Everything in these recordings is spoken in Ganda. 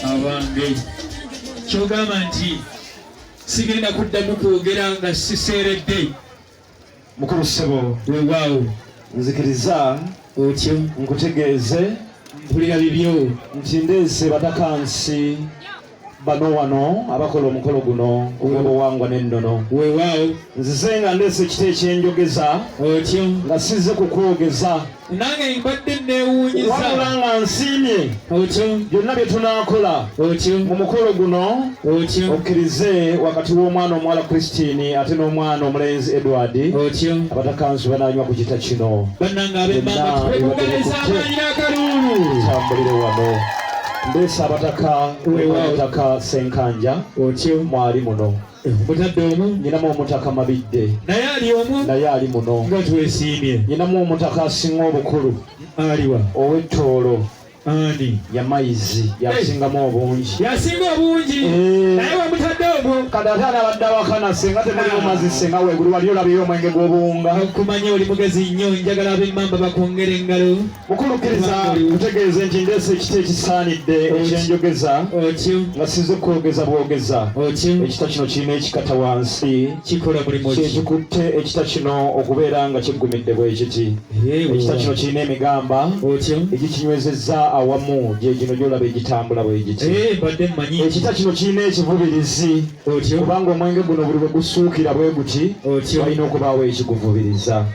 abange kyogamba nti sigenda kuddamu kwogera nga siseeredde mukulu ssebo wewaawo nzikiriza otyo nkutegeeze mpulira bibyo nti ndeese batakansi bano wano abakola omukolo guno ogw'obuwangwa n'ennono weewaawo nzize nga ndeese ekita ekyenjogeza otyo nga sizze kukwogeza nange mbadde nneewuunyiza wabula nga nsiimye otyo byonna bye tunaakola otyo mu mukolo guno otyo okkirize wakati w'omwana omuwala kristine ate n'omwana omulenzi edward otyo abatakansi banaanywa ku kita kino bannange abemmaama tukwekugaliza abaayina akaluulu tambulire wano Ndeesa abataka wewaataka Senkanja otyo mwali muno mutadde omu nyinamu omutaka Mabidde naye ali omu naye ali muno nga twesiimye nyinamu omutaka asinga obukulu aliwa ow'ettoolo ani yamayizi yasingamu obungi yasinga obungi eh. naye wamutadde ogwo kati ate anabadde awakana senga temulimu ah. mazi senga weguli wali olabiyo omwenge gw'obuwunga okumanya oli mugezi nnyo njagala ab'emmamba bakwongere engalo mukulukkiriza kutegeeza nti ndeese ekita ekisaanidde ekyenjogeza nga size kwogeza bwogeza ekita kino kirina ekikata wansi kyekikutte ekita kino okubeera nga kiggumidde bwekiti ekita kino kirina emigamba egikinywezezza awamu gyegino gyolaba egitambula bwegiti ekita kino kirina ekivubirizi otyo kubanga omwenge guno buli bwe gusuukira bwe guti otyo walina okubaawo ekiguvubiriza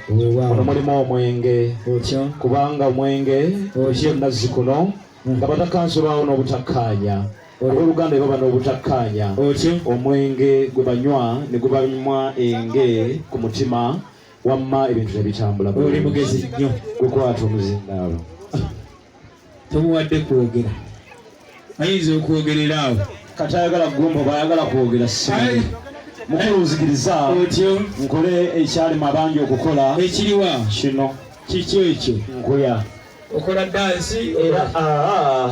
ono mulimu omwenge otyo kubanga omwenge otyo nazzi kuno mm. nga batakansi baawo n'obutakkaanya olw'oluganda baba n'obutakkaanya otyo omwenge gwe banywa ne gubanywa enge ku mutima wamma ebintu ne bitambula oli mugezi nnyo gukwata omuzindaalo tomuwadde kwogera ayinza okwogerera awo kati ayagala gumba bayagala kwogera simanyi mukulu nzikiriza otyo nkole ekyali mabangi okukola ekiriwa kino kiki ekyo nkuya okola dansi era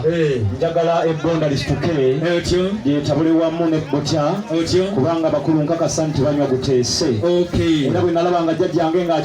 eh. njagala ebbonda lisituke otyo lyetabule wamu ne butya otyo kubanga bakulu nkakasa nti banywa guteese era bwe nalaba nga jjajjange nga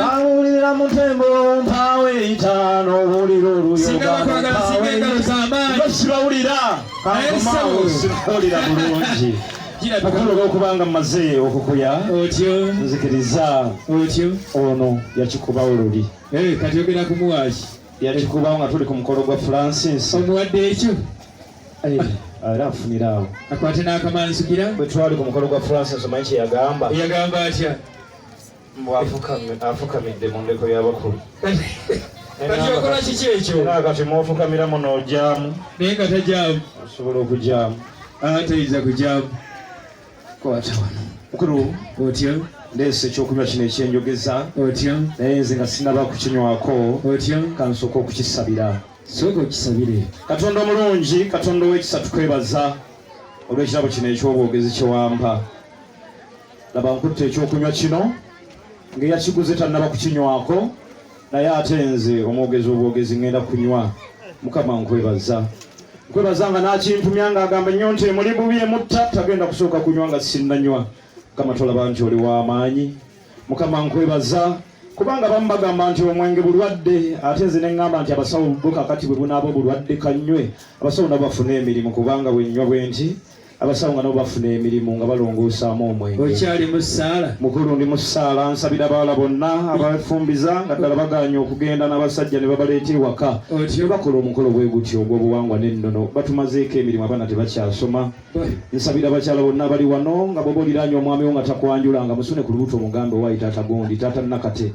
bawulira mutembo mpaawo eyitaano owulira oluyogaosibawulira kaumawulira bulungi mukulu olwokubanga mmaze okukuya otyo nzikiriza otyo ono yakikuba oluli eh, kati ogera kumuwaki yakikuba nga tuli ku mukolo gwa francis omuwadde ekyo eh. ah. era afunira awo akwate n'akamanzikira bwe twali ku mukolo gwa francis omanyi kyeyagamba yagamba atya afukamidde mu ndeko y'abakulu kakyokola kiki ekyo kati mwofukamira muno ojamu naye nga tajamu osobola okujamu atayinza ah, kujamu kwata wano mukulu otya ndeese ekyokunywa kino ekyenjogeza otya naye nze nga sinaba kukinywako otya kansooka okukisabira sooka okisabire katonda omulungi katonda ow'ekisa tukwebaza olw'ekirabo kino eky'obwogezi kyewampa laba nkutte ekyokunywa kino ng'eyakiguze tannaba kukinywako naye ate nze omwogezi obwogezi ngenda kunywa mukama nkwebaza nkwebaza nga nakintumya nga agamba nnyo nti emuli bubi emutta tagenda kusooka kunywa nga sinnanywa mukama tolaba nti oli w'amaanyi mukama nkwebaza kubanga bamu bagamba nti omwenge bulwadde ate nze neŋŋamba nti abasawo bwo kakati bwe bunaaba obulwadde kanywe abasawo nabo bafune emirimu kubanga bwennywa bwenti abasawo nga nabo bafuna emirimu nga balongoosaamu omwenge okyali mu ssaala mukulu ndi mu ssaala nsabira abawala bonna abafumbiza nga ddala baganye okugenda n'abasajja ne babaleeta ewaka ne bakola omukolo bwe gutyo ogw'obuwangwa n'ennono batumazeeko emirimu abaana tebakyasoma nsabira abakyala bonna abali wano nga bwoba oliraanye omwami wo nga takwanjula nga musune ku lubuto omugambe owayi taata gundi taata nakate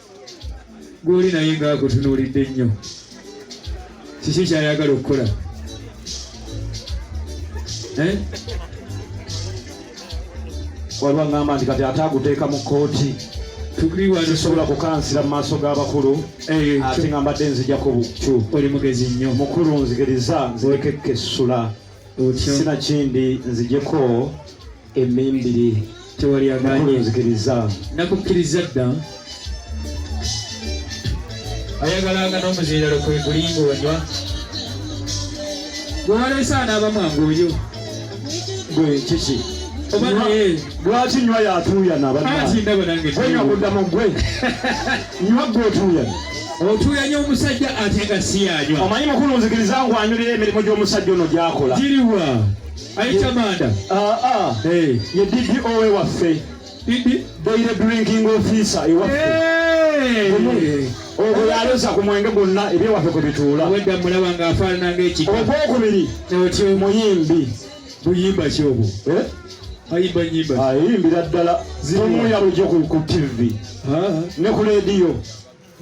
gwoli naye nga akutunuulidde nnyo kiki kyayagala okukola eh? waliwo aŋamba nti kati ate aguteeka mu kooti tusobola kukansira mu maaso g'abakulu eh, ate nga mbadde nzijako bukyu oli mugezi nnyo mukulu nzigiriza nzirekekka essula sina kindi nzijeko emimbiri tewali aganzikiriza nakukkiriza dda ayagalanga n'omuziiralo kwe gulinga onywa gwewaleese anaaba mwangu oyo gwe kiki lwaki nywa yatuuyana banywa kudda mu gwe Nywa gwe otuuyanye. Otuuyanye omusajja ate nga si yanywa. Omanyi mukulu nzikiriza ngu anyulira emirimu gy'omusajja ono gy'akola. Giriwa? Ayita manda. Ah, ah. Hey. Ye DDO we waffe. Didi? Daily drinking officer ewaffe. Hey. Hey. ogwo yaloza ku mwenge gwonna ebyewaffe kwe bituula. Obwedda mulaba ng'afaanana ng'ekika. Ogwokubiri. Otyo. Muyimbi. buyimba ki obwo eh? ayimba nyimba ayimbira ah, ddala zimuya bujo ku tv ah. ne ku leediyo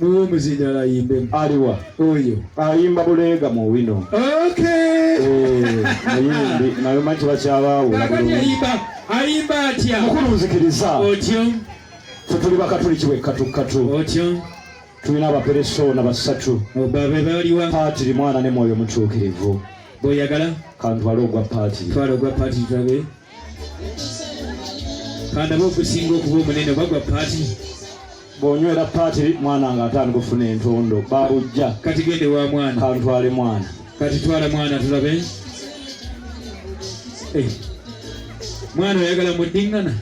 muwe omuzindala ayimbe aliwa oyo ayimba buleega mu wino eh, ayimbi nayo manti bakyabaawula ayimba atya mukulu nzikiriza otyo fetuli bakatuliki wekkatukatu otyo tulina abaperesona basatu babe baliwa paatiri mwana ne mwoyo mutuukirivu bweyagala kantwale ogwa paatiri twala ogwa paatiri tulabe kandaba okusinga okuba omunene oba gwa paatiri bwonywera paatiri mwana nga ate anigufuna entondo babujja kati gende wa mwana kantwale mwana kati twala mwana tulabe eh. mwana oyagala muddingana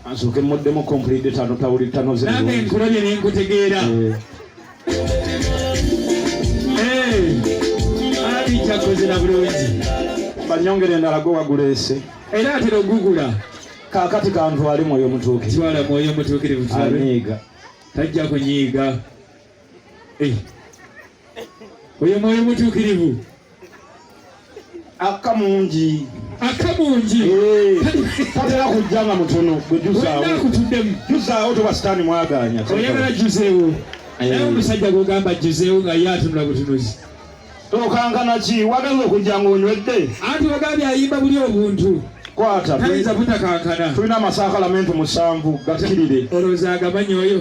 Ansooke mmuddemu complete tano tawuli tano zino. Nange nkulabye ne nkutegeera. Eh. eh. Ali kyakoze na bulungi. Banyongere endala gwe waguleese. Era atera ogugula. Kaakati kantwale mwoyo mutuukirivu. Twala mwoyo mutuukirivu. Anyiiga. Tajja kunyiiga. Eh. oyo mwoyo mutuukirivu akka mungi akka mungi tatera kujja nga mutono gwejuzawokutudemu juzawo toba sitaani mwaganya oyagala juzewo naye omusajja gwogamba juzewo nga ye atunula butunuzi tokankana ki wagala okujja ngaonywedde anti ogambye ayimba buli obuntu kwata tayinza butakankana tulina amasaakalamenti musanvu gakkirire olowooza agamanyi oyo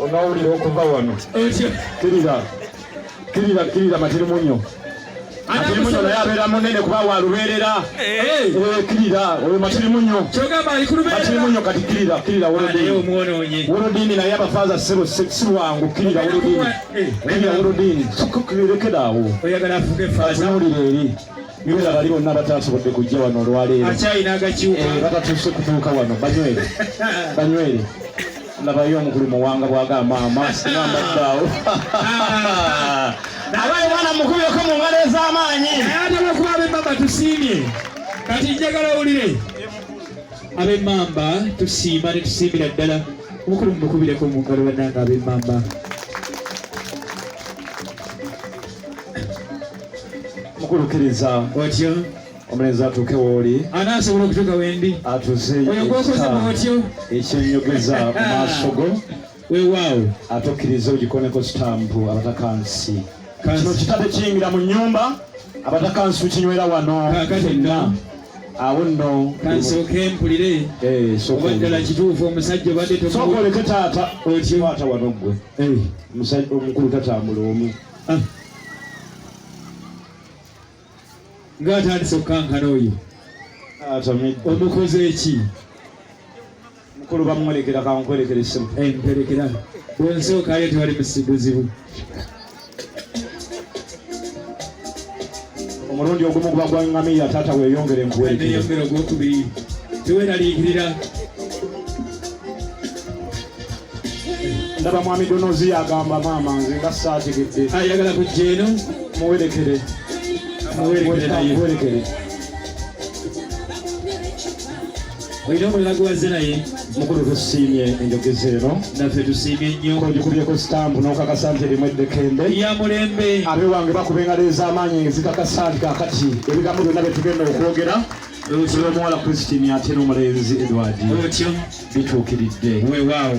onawulira okuva wano kirira kirira kirira matirimunyo matirimunyo naye abeera munene kuba walubeerera kirira oyo matirimunyo matirimunyo kati kirira kirira wolodini wolodini naye abafaaza sebo si lwangu kirira wolodini kirira wolodini lekera awo atunulira eri nibera bali bonna batasobodde kujja wano olwaleero eh, batatuuse kutuuka wano banywere banywere labayo omukulu muwanga bwagamba amaasi namaddaawo abaye mwana mukubyeko mu ngalo ez'amaanyi ayatalakuba abemamba tusiimye kati njagala owulire abemamba tusiima ne tusiimira ddala omukulu mumukubireko mu ngalo bannanga abemamba mukulu kiriza otyo omulenzi atuuke wooli anaasobola okutuuka wendi atuzeeyo ekyenyogeza mu maaso go wewaawo ate okkiriza ogikoneko sitampu abatakansi kino kitade kiyingira mu nyumba abatakansi tukinywera wano fenna awo nno kansooke mpulire eh, oba ddala kituufu omusajja obadde sooka oleke taata okiwaata wano ggwe eh. omukulu tatambula omu ah. ng'atandise okukankana oyo omukoze eki mukulu bamwolekera kankwolekera essimu emperekera eh, bwensookayo tewali musibuzibu omulundi ogumu guba gwa ngamiya taata weyongere enkuwerekera ogwokubiri teweraliikirira ndaba mwami donozi yagamba maama nze nga saategedde ayagala ah, kujja eno muwerekere muwerekere olina omulala gwewaze naye mukulu tusiimye enjogeza eno naffe tusiimye nnyo ogikubyeko sitampu n'okakasa nti erimu eddekende ya mulembe abe wange bakuba engalo ez'amaanyi ezikakasa nti kakati ebigambo byonna bye tugenda okwogera omuwala christine ate n'omulenzi edward bituukiridde weewaawo